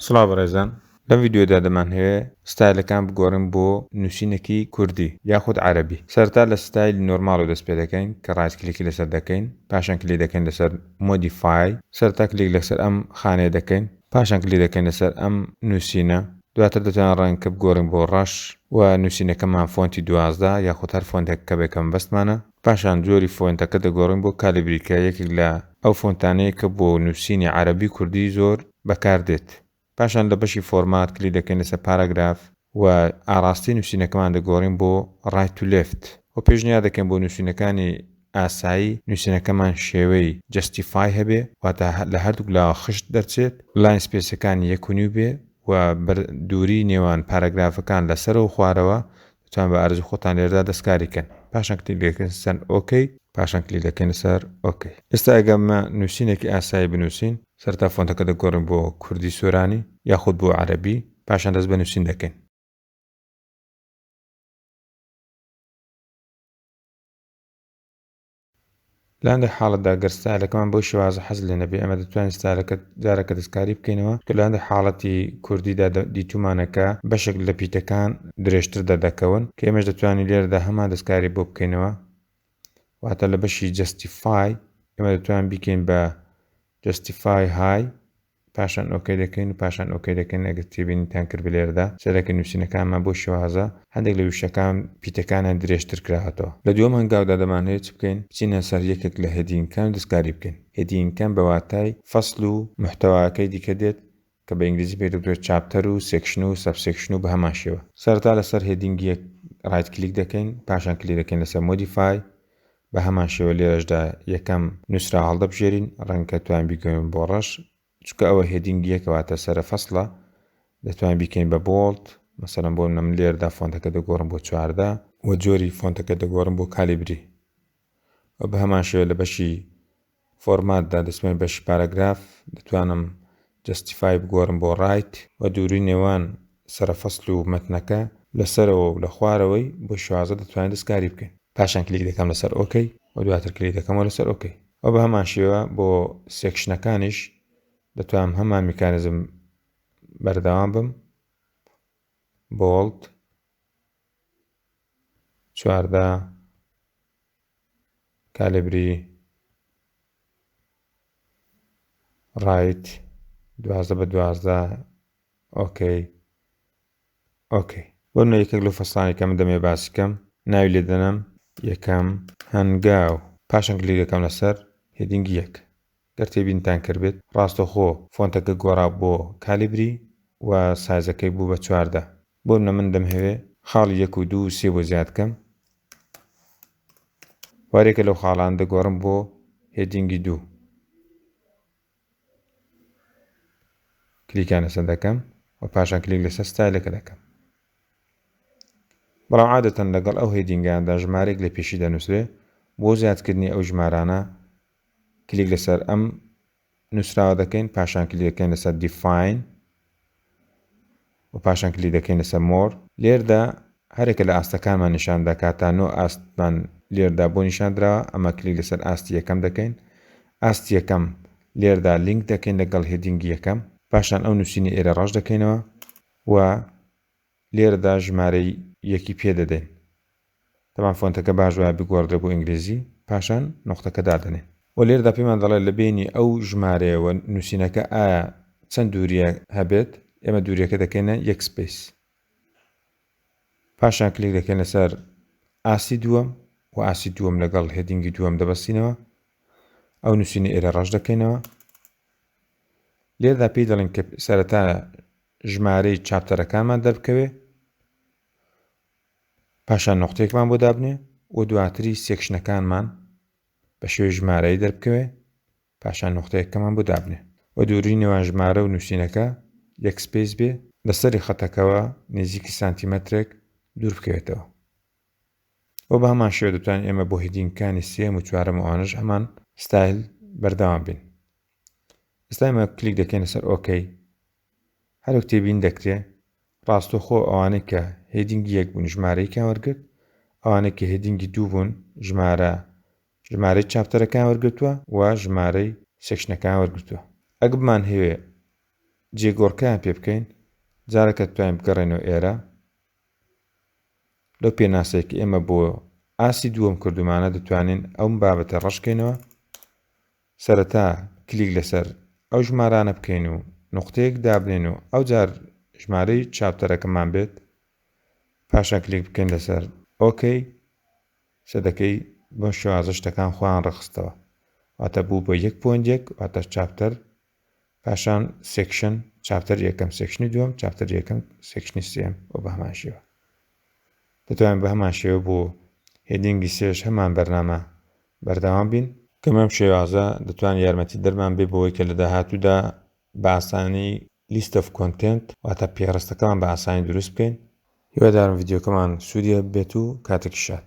سڵاو بەڕێزان لەم ڤیدیۆدا دەمانهەوێ ستایلەکان بگۆڕین بۆ نوسینەکی کوردی یاخود عەرەبی سەرەتا لە ستایلی نۆرماڵەوە دەست پێدەکەین کە ڕایت کلیکی لەسەر دەکەین پاشان کلیک دەکەین لەسەر مۆدیفای سەرەتا کلیک لەسەر ئەم خانەیە دەکەین پاشان کلیک دەکەین لەسەر ئەم نوسینە دواتر دەتوانین ڕەنگەکە بگۆڕین بۆ ڕەش و نوسینەکەمان فۆنتی دوازدە یاخود هەر فۆنتێک کە بێ کەمەبەستمانە پاشان جۆری فۆنتەکە دەگۆڕین بۆ Calibri کە یەکێک لە ئەو فۆنتانەیە کە بۆ نووسینی عەرەبی و کوردی زۆر بەکار دێت. پاشان لە بەشی فۆرمات کلیک دەکەین لەسەر پاراگراف و ئاڕاستەی نووسینەکەمان دەگۆڕین بۆ Right to Left و پێشنیار دەکەین بۆ نووسینەکانی ئاسایی نووسینەکەمان شێوەی Justify هەبێ واتە لە هەردووک لاوە خشت دەرچێت، لاین سپێسەکانی یەک و نیو بێ و دووری نێوان پاراگرافەکان لە سەرەوە و خوارەوە لوتفان بە ئارەزوی خۆتان لێرەدا دەست کاری کەن پاشان کلیک دەکەن سەر ok پاشان کلیک دەکەنە سەر ok ئێستا ئەگەر ئەمە نوسینێکی ئاسایی بنوسین سەرەتا فۆنتەکە دەگۆرین بۆ کوردی سۆرانی یاخود بۆ عەرەبی پاشان دەست بە نوسین دەکەین. لە هەندێک حاڵەتدا گەر ستایلەکەمان بەو شێوازە حەز لێ نەبێ ئێمە دەتوانین ستایلەکە جارەکە دەستکاری بکەینەوە کە لە هەندێک حاڵەتی کوردیدا دیتوومانە کە بەشێک لە پیتەکان درێژتر دەردەکەون کە ئێمەش دەتوانین لێرەدا هەمان دەستکاری بۆ بکەینەوە واتە لە بەشی جەستیفای ئێمە دەتوانین بیکەین بە جەستیفای های پاشان ئۆکەی دەکەین و پاشان ئۆکەی دەکەین ئەگەر تێبینیتان کرد بلێرەدا سەرەکی نوسینەکانمان بۆ شێوازە هەندێک لە وشەکان پیتەکانیان درێژتر کراوەتەوە لە دووەم هەنگاودا دەمانهەوێت چ بکەین بچینە سەر یەکێک لە هێدینگەکان و دەستکاری بکەین هێدینگەکان بە واتای فەسل و محتەواکەی دیکە دێت کە بە ئینگلیزی پێی دەگوترێت چاپتەر و سێکشن و سەب سێکشن و بەهەمان شێوە سەرەتا لەسەر هێدینگ یەک ڕایت کلیک دەکەین پاشان کلیک دەکەین لەسەر مۆدیفای بە هەمان شێوە لێرەشدا یەکەم نووسراو هەڵدەبژێرین، ڕەنگە توان بیکەوین بۆ ڕەش، چونکە ئەوە هێدینگ یەکە واتە سەرە فەسڵە، دەتوان بیکەین بە بۆڵد، مەسەلەن بۆ منە من لێرەدا فۆنتەکە دەگۆڕم بۆ چواردە، وە جۆری فۆنتەکە دەگۆڕم بۆ کالیبری، وە بە هەمان شێوە لە بەشی فۆرمات دا دەچمە بەشی پاراگراف دەتوانم جەستیفای بگۆرم بۆ ڕایت و دووری نێوان سەرە فەسل و مەتنەکە لە سەرەوە و لە خوارەوەی بۆ شازدە دەتوانین دەستکاری بکەین. پاشان کلیک دەکەم لەسەر ئۆکەی و دواتر کلیک دەکەمەوە لەسەر ئۆکەی و بە هەمان شێوە بۆ سێکشنەکانیش دەتوانم هەمان میکانیزم بەردەوام بم بۆڵد چواردە کالێبری ڕایت دوازدە بە دوازدە ئۆکەی ئۆکەی بۆ منە یەکێک لەو فەستانی کە من دەمێ باسی کەم ناوی لێ دەنەم یەکەم هەنگاو پاشان کلیکەکەم لەسەر هێدینگی یەک گەر تێبینتان کردبێت ڕاستەوخۆ فۆنتەکە گۆڕا بۆ کالیبری و سایزەکەی بوو بە چواردە بۆنمونە من دەمهەوێ خاڵی یەک و دوو و سێ بۆ زیاد بکەم و هەرێکە لەو خاڵانە دەگۆڕم بۆ هێدینگی دوو کلیکیان لەسەر دەکەم و پاشان کلیک لەسەر ستایلەکە دەکەم بەڵام عادەتەن لەگەڵ ئەو هێدینگاندا ژمارێک لە پێشی دەنووسرێ بۆ زیادکردنی ئەو ژمارانە کلیک لەسەر ئەم نووسراوە دەکەین پاشان کلیک دەکەین لەسەر دیفاین و پاشان کلیک دەکەین لەسەر مۆر لێردا هەرێکە لە ئاستەکانمان نیشان دەکات تا نۆ ئاستمان لێردا بۆ نیشاندراوە ئەمە کلیک لەسەر ئاستی یەکەم دەکەین ئاستی یەکەم لێردا لینک دەکەین لەگەڵ هێدینگی یەکەم پاشان ئەو نووسینی ئێرە ڕەش دەکەینەوە و لێرەدا ژمارەی یەکی پێ دەدەین. تەبان فۆنتەکە باش وایە بگۆڕدرێ بۆ ئینگلیزی، پاشان نوقتەکە دادەنێین. وە لێرەدا پێمان دەڵێ لە بەینی ئەو ژمارەیە و نووسینەکە ئایا چەند دوورییە هەبێت، ئێمە دوورییەکە دەکەینە یەک سپەیس. پاشان کلیک دەکەین لەسەر ئاستی دووەم و ئاستی دووەم لەگەڵ هێدینگی دووەم دەبەستینەوە. ئەو نووسینە ئێرە ڕەش دەکەینەوە. لێرەدا پێی دەڵێن کە سەرەتا ژمارەی چاپتەرەکانمان دەربکەوێ پاشان نوقتەیەکمان بۆ دابنێ و دواتری سێکشنەکانمان بە شێوەی ژمارەی دەربکەوێ پاشان نوقتەیەکەمان بۆ دابنێ و دووری نێوان ژمارە و نووسینەکە یەک سپیس بێ لە سەری خەتەکەوە نێزیکی سانتیمەترێک دوور بکەوێتەوە و بە هەمان شێوە دەتوانین ئێمە بۆ هیدینگەکانی سێم و چوارەم و ئەوانەش هەمان ستایل بەردەوام بین ئێستایمە کلیک دەکەینە سەر ئۆکەی هەرک تێبین دەکرێ ڕاستەخۆ ئەوانەی کە هێدینگی یەک بوون ژمارەیەکیان وەرگرت ئەوانەی کە هێدینگی دوو بوون ژمارە ژمارەی چاپتەرەکان وەرگتووە و ژمارەی سێکشنەکان وەرگتووە ئەگ بمان هەوێ جێگۆڕکەیان پێ بکەین جارەکە توانین بگەڕێنەوە ئێرە لەو پێناسێک ئێمە بۆ ئاسی دووەم کردومانە دەتوانین ئەوم بابەتە ڕشکەینەوە سەرەتا کلیک لەسەر ئەو ژمارانە بکەین و نوقتەیەک دابنێین و ئەوجار ژمارەی چاپتەرەکەمان بێت پاشان کلیک بکەین لەسەر ئۆکەی سە دەکەی بەم شێوازە شتەکان خۆیان ڕەخستەوە واتە بوو بە یەک پۆینت یەک واتە چاپتەر پاشان سێکشن چاپتەر یەکەم سێکشنی دووەم چاپتەر یەکەم سێکشنی سێم و بە هەمان شێوە دەتوانین بە هەمان شێوە بۆ هێدینگی سێش هەمان بەرنامە بەردەوام بین کە مەم شێوازە دەتوان یارمەتی دەرمان بێ بەوەی کە لە داهاتوودا بە ئاسانی لیست ئەف کۆنتێنت واتە پێڕستەکەمان بە ئاسانی دروست بکەین هیوادارم ڤیدیۆکەمان سوودی هەبێت و کاتێکی شاد